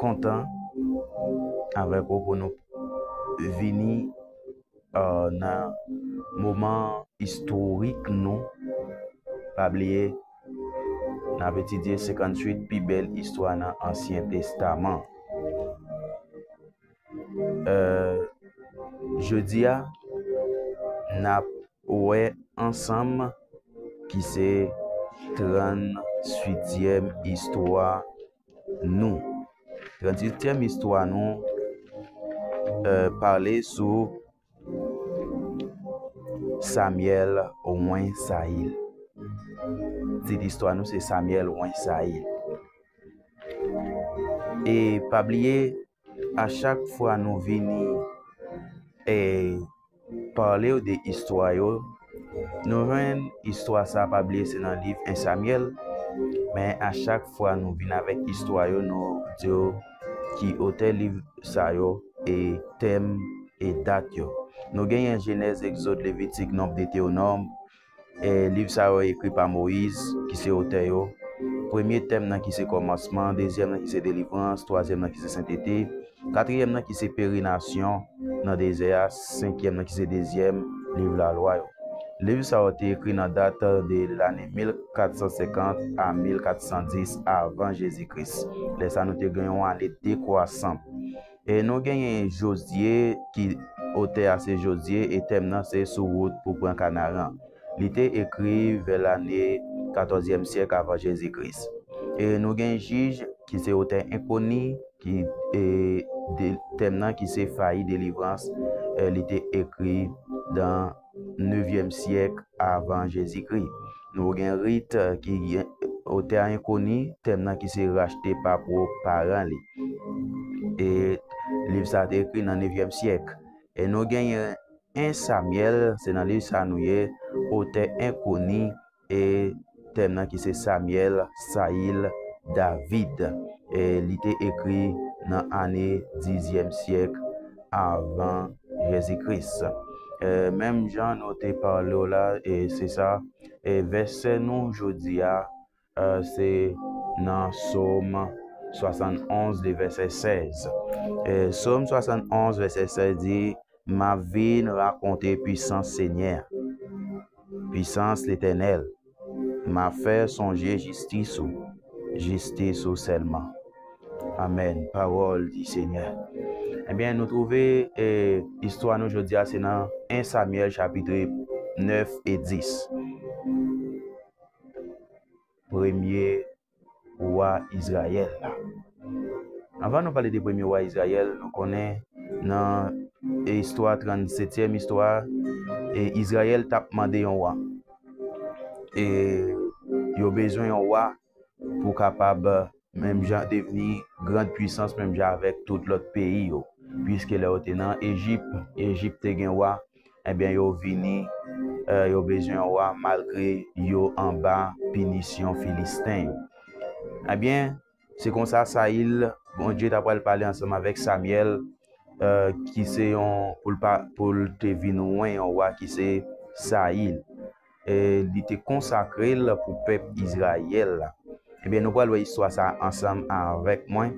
kontan avèk ou pou nou vini euh, nan moman istorik nou. Pa bliye, n ap etidye 58 pi bèl istwa nan Ansyen Testaman. Euh, jodi a, n ap wè ansanm ki se 38 yèm istwa nou. Tranzitèm istwa nou pale sou Samyèl Wen Sayil. Tit istwa nou se Samyèl Wen Sayil. E pa bliye a chak fwa nou vini e palew de istwa yo nou jwenn istwa sa pa bliye se nan liv 1 Samyèl men a chak fwa nou vini avèk istwa yo nou diw ki otè liv sa yo e tèm e dat yo nou genyen jenèz egzod levitik nonb deteonom E liv sa yo ekri pa Moyiz, ki se otè yo. Premye tèm nan ki se kòmansman, dezyèm nan ki se delivrans, twazyèm nan ki se sentete, katriyèm nan ki se perenasyon nan dezè a, senkyèm nan ki se dezyèm liv lalwa yo. Liv sa yo te ekri nan dat de lane 1450 a 1410 avan Jezi Kris. Lè sa nou te gen yon ane dekwasan. E nou genyen Jozye ki otè a se Jozye e tèm nan se sou wout pou pran Kanaran. Li te ekri vè lane katòzyèm syèk avan Jezi Kris. E nou gen Jij ki se otè enkoni ki tèm nan ki se fayi delivrans li te ekri dan 9e syèk avan Jezikri. Nouvo gen rit ki gen otè a enkoni, tèm nan ki se rachte pa pwòp paran li. E liv sa te ekri nan 9e syèk. E nou genyen 1 Samyèl, se nan liv sa nou ye, otè enkoni, e tèm nan ki se Samyèl, Sayil, David e li te ekri nan ane dizyèm syèk avan Jezikris. E menm jan nou te pale w la, e se sa, e vèsè nou jodi a, e se nan Som 71 de vèsè 16. E Som 71 vèsè 16 di. Map vin rakonte pwisans Senyè a, pwisans Letènèl, map fè sonje jistis ou, jistis ou sèlman. Amen, pawòl di Senyè. Ebyen nou twouve e istwa nou jodi a se nan 1 Samyèl chapitre 9 e 10. Premye wa Izrayèl la. Anvan nou pale de premye wa Izrayèl, nou konnen nan istwa 37 setyèm istwa a, e Izrayèl t ap mande yon wa. E yo bezwen yon wa pou kapab menm jan devni grand pwisans menm jan avèk tout lòt peyi yo. Piske lè yo te nan Ejip, Ejip te gen wa, Ebyen yo vini yo bezwen yon wa malgre yo anba pinisyon Filisten yo. Ebyen, se konsa Sayil, Bondye ta pral pale ansanm avèk Samyèl ki se yon pou l te vin ouen yon wa ki se Sayil. li te konsakre l pou pèp Izrayèl la. Ebyen nou pral wè istwa sa ansanm avèk mwen.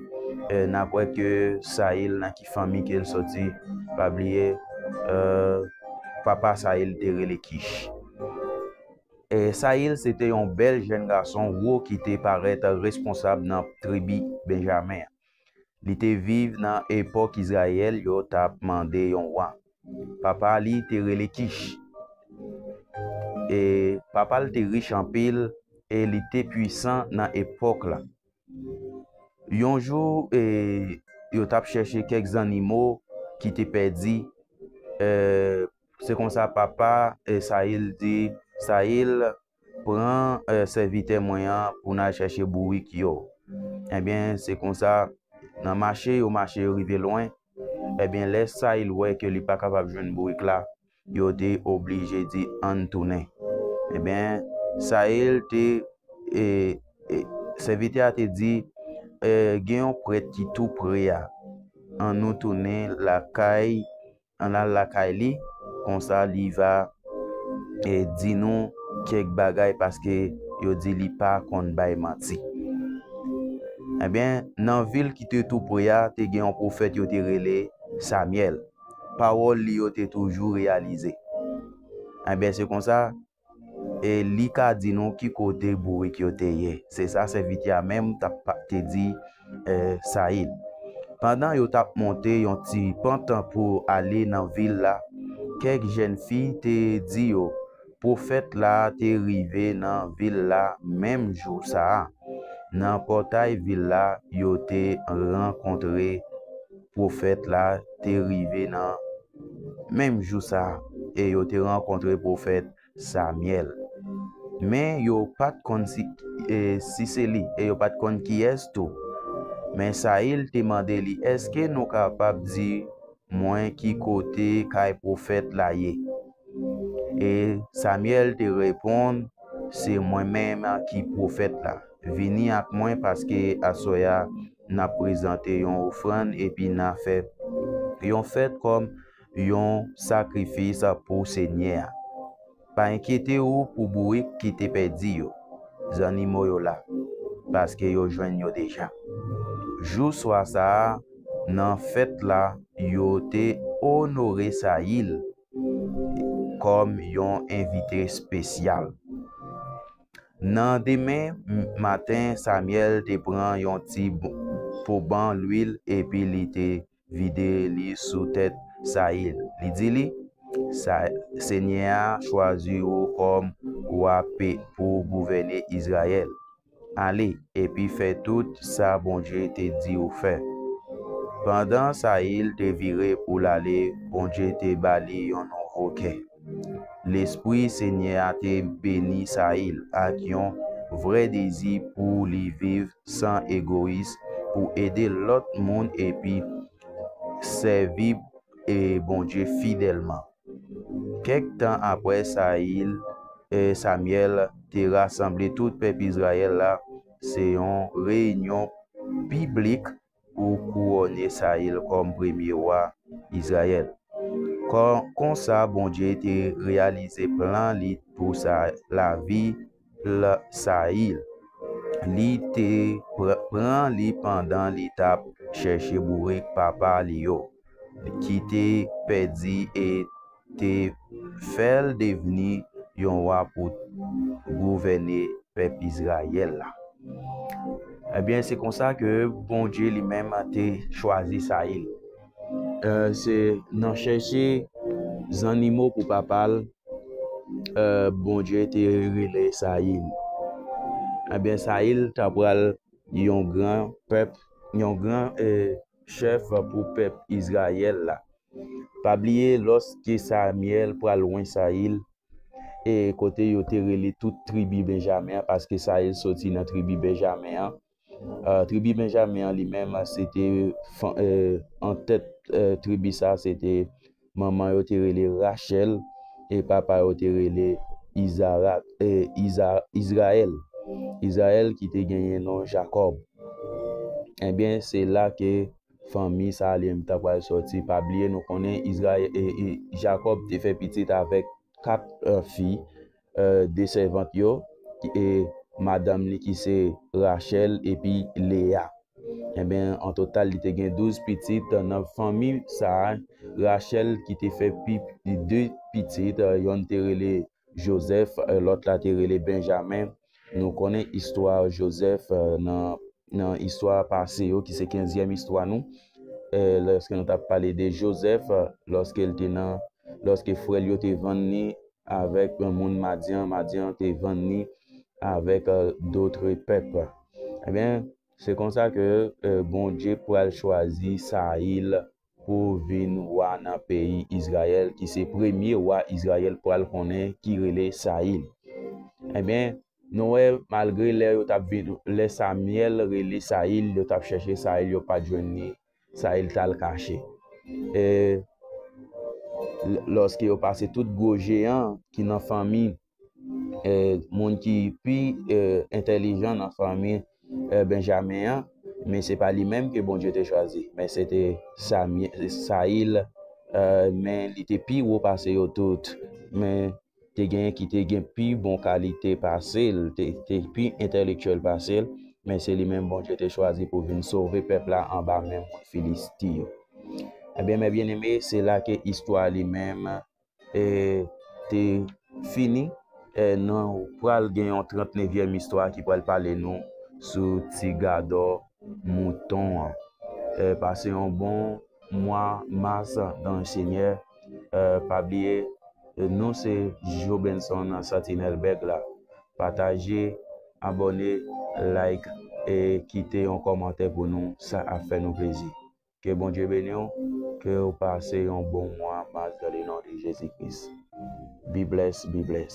Euh, n ap wè ke Sayil nan ki fanmi ke l soti. Pa bliye, euh, papa Sayil te rele Kich. E Sayil se te yon bèl jenn gason wo ki te parèt responsab nan tribi Benjamen an. Li te viv nan epòk Izrayèl yo t ap mande yon wa. Papa li te rele Kich. E papa l te rich anpil e li te puisan nan epòk la. Yon jou, e yo t ap chèche kèk zannimo ki te pèdi. E se konsa papa Sayil di Sayil. Pran sèvitè mwen an pou n al chèche bourik yo. Ebyen, se konsa, nan mache yo mache yo rive lwen, ebyen, lè Sayil wè ke li pa kapab jwenn bourik la, yo te oblije di, Ann tounen. Ebyen, Sayil te, e, e, sèvitè a te di, E, gen yon prèt ki tou pre a. Annou tounen lakay Ann al lakay li, konsa li va di nou kèk bagay paske yo di li pa konn bay manti. Enben, nan vil ki te toupre a, te gen yon pwofèt yo te rele Samyèl. Pawòl li yo te toujou reyalize. Enben, se konsa, e li ka di nou ki kote bourik yo te ye, se sa sèvitè a menm te di Sayid. Pandan yo t ap monte yon ti pant pou ale nan vil la, kèk jèn fi te di yo pwofèt la te rive nan vil la menm jou sa a. Nan pòtay vil la, yo te rankontre pwofèt la te rive nan Menm jou sa a, e yo te rankontre pwofèt Samyèl. Men, yo pa t konn si se li, e yo pa t konn kiyès tou. Men, Sayil te mande li, Èske nou kapab di mwen ki kote kay pwofèt la ye? E Samyèl te reponn, Se mwen menm ki pwofèt la. Vini ak mwen, paske aswè a N ap prezante yon ofrann epi n a fè yon fèt kòm yon sakrifis pou Senyè a. Pa enkyete ou pou bourik ki te pèdi yo. Zannimo yo la, paske yo jwenn yo deja. Jou swa sa a, nan fèt la, yo te onore Sayil kòm yon envite spesyal. Nan demen maten, Samyèl te pran yon ti poban luil epi li te vide li sou tèt Sayil. Li di li, Senyè a chwazi ou kòm wa pou w gouvène Izrayèl. Ale, epi fè tout sa Bondye te di w fè. Pandan Sayil te vire pou l ale, Bondye te ba li yon nouvo kè. Lespri Senyè a te beni Sayil ak yon vrè dezi pou li viv san egoyis, pou ede lòt moun epi sèvi Bondye fidèlman. Kèk tan apre, Sayil, Samyèl, te rasanble tout pèp Izrayèl la se yon reyinyon piblik pou kouwone Sayil kòm premye wa Izrayèl. Konsa, Bondye te reyalize plan li pou lavi Sayil. Li te pran li pandan li t ap chèche bourik papa li yo. ki te pèdi e te fè l devni yon wa pou gouvène pèp Izrayèl la. Ebyen, se konsa ke Bondye li menm te chwazi Sayil. E, se nan chèche zannimo pou papa l, e, Bondye te rele Sayil. Ebyen, Sayil ta pral yon gran pèp, yon gran, e, chèf pou pèp Izrayèl la. Pa bliye, lòske Samyèl pral lwen Sayil, e kote yo te rele tout tribi Benjamen an, paske Sayil soti nan tribi Benjamen an, tribi Benjamen an li menm, se te antèt tribi sa a, se te. Manman yo te rele Rachèl e papa yo te rele Izarak, e, Iza, Izrayèl. Izrayèl ki te genyen non Jakòb. Enben, se la ke fanmi sa a li menm ta pral sòti. Pa bliye nou konnen Izrayè, e, e, Jakòb te fè pitit avèk kat fi, de sèvant yo, e madanm li ki se Rachèl epi Leya. Enben, an total, li te gen douz pitit. Nan fanmi sa a, Rachèl ki te fè pi de pitit, yonn te rele Jozèf, lòt la te rele Benjamen. Nou konnen istwa Jozèf nan istwa pase yo, ki se kenzyèm istwa nou, lèske nou t ap pale de Jozèf, lòske frè l yo te vann li Avèk moun Madyan, Madyan te vann li avèk dotre pèp. Ebyen, se konsa ke Bondye pral chwazi Sayil pou vin wa nan peyi Izrayèl, ki se premye wa Izrayèl pral konnen ki rele Sayil. Ebyen, nou wè, malgre lè yo t ap vin, lè Samyèl rele Sayil, yo t ap chèche Sayil, yo pa t jwenn li. Sa e l t al kache. E lòske yo pase tout gwo jeyan ki nan fanmi moun ki pi entèlijan nan fanmi Benjamen an, men se pa li menm ke Bondye te chwazi, men se te Sayil, men li te pi wo pase yo tout. Men, te gen ki te gen pi bon kalite pase l, te pi entèlektyèl pase l, men se li menm Bondye te chwazi pou vin sove pèp la anba men moun Filisti yo. Ebyen, mè byeneme, se la ke istwa li menm e te fini. E nou pral gen yon trantnevyèm istwa ki pral pale nou sou ti gadò mouton an. Pase yon bon mwa mas nan Senyè. pa bliye nou se jobenson santinèl bèk la pataje abòne like e kite yon kòmantè pou nou sa ap fè nou plezi ke bondye beniw kew pase yon bon mwa mas dan le non de jezi kris be bless be bless.